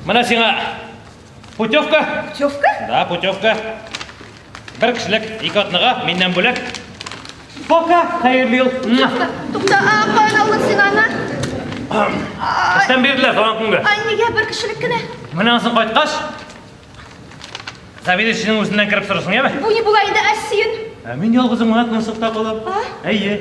Менә сиңа путевка. Путевка? Да, путевка. Бер кешелек ике атнага миннән бүләк. Пока, хәерле ел. Тукта, а каян алдың син аны? Эштән бирделәр туган көнгә. Ай, нигә бер кешелек кенә? Менә ансын кайткач, заведующийның үзеннән кереп сорысын, яме? Бу ни була инде, Әсин? Ә мин ялгызым гына кунсыкта калам. Әйе.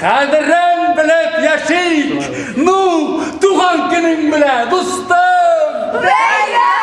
Кадерен белеп яшик! Ну, туган көнең белә, дустым! Бәйрәм!